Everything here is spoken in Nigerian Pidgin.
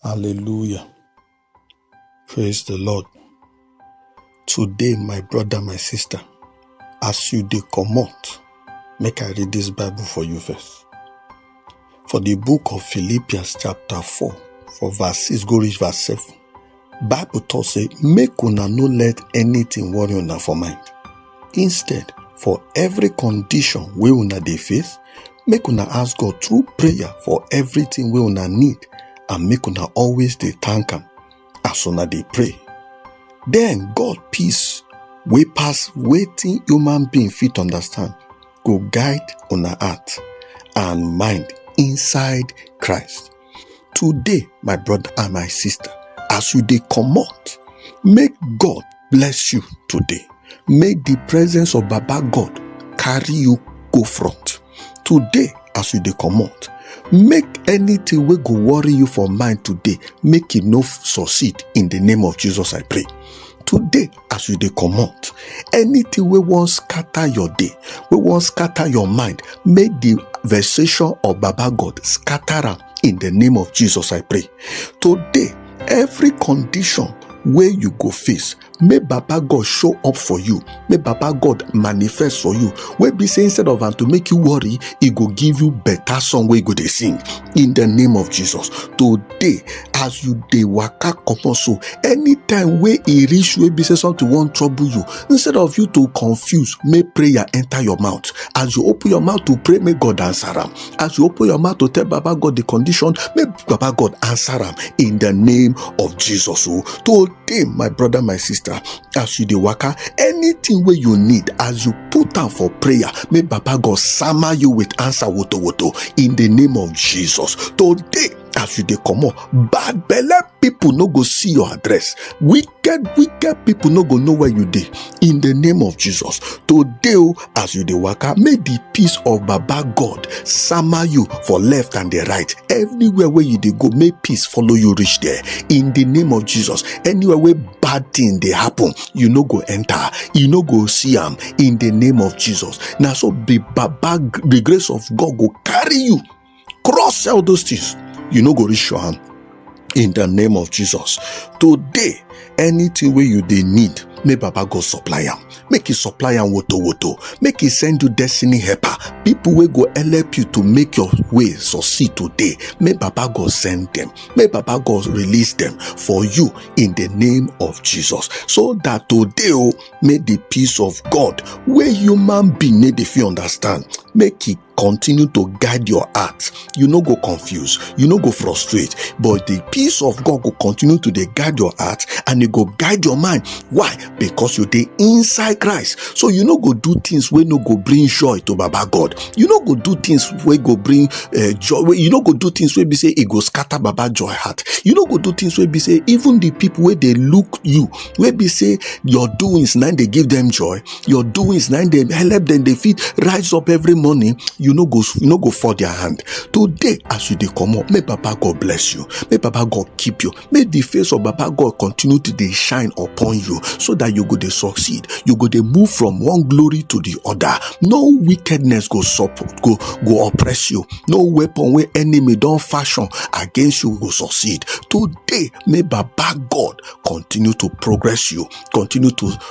Hallelujah. Praise the Lord. Today, my brother, my sister, as you dey comot, make I read this Bible for you first. For the book of Philippians chapter 4, for verse 6 go reach verse 7. Bible talk say, make una no let anything worry una for mind. Instead, for every condition wey una dey face, make una ask god through prayer for everything wey una need and make una always dey thank am as una dey pray then god peace wey pass wetin human being fit understand go guide una heart and mind inside christ today my brother and my sister as you dey comot make god bless you today make the presence of baba god carry you go front today as you dey comot make anything wey go worry you for mind today make e no succeed in the name of jesus i pray today as you dey comot anything wey wan scatter your day wey wan scatter your mind make the vexation of baba god scatter am in the name of jesus i pray today every condition wey you go face make baba god show up for you make baba god manifest for you wey be say instead of am to make you worry e go give you better song wey you go dey sing in the name of jesus to day as you dey waka comot so anytime wey e reach wey be say something wan trouble you instead of you to confuse make prayer enter your mouth as you open your mouth to pray make god answer am as you open your mouth to tell baba god the condition make baba god answer am in the name of jesus o oh. today my brother my sister as you dey waka anything wey you need as you put am for prayer make baba god sama you with answer woto woto in the name of jesus today as you dey comot bad belle people no go see your address wicked wicked people no go know where you dey in the name of jesus today o as you dey waka may the peace of baba god sama you for left and the right everywhere wey you dey go may peace follow you reach there in the name of jesus anywhere wey bad thing dey happen you no go enter you no go see am in the name of jesus na so the baba the grace of god go carry you cross sell those things you no go reach your hand in the name of jesus today anything wey you dey need make baba go supply am make he supply am woto woto make he send you destiny helper people wey go help you to make your way succeed today make baba god send them make baba god release them for you in the name of jesus so that today o make the peace of god wey human being no dey fit understand make e continue to guide your heart you no go confuse you no go frustrate but the peace of god go continue to dey guide your heart and e go guide your mind why because you dey inside christ so you no go do things wey no go bring joy to baba god you no go do things wey go bring uh, joy wey- you no go do things wey be say e go scatter baba joy heart you no go do things wey be say even the people wey dey look you wey be say your doings na im dey give them joy your doings na dem help dem dey fit rise up every morning you no go you no go fall their hand today as you dey comot make baba god bless you make baba god keep you make the face of baba god continue to dey shine upon you so that you go dey succeed you go dey move from one glory to the other no wickedness go support go go oppress you no weapon wey enemy don fashion against you go succeed today may baba god continue to progress you continue to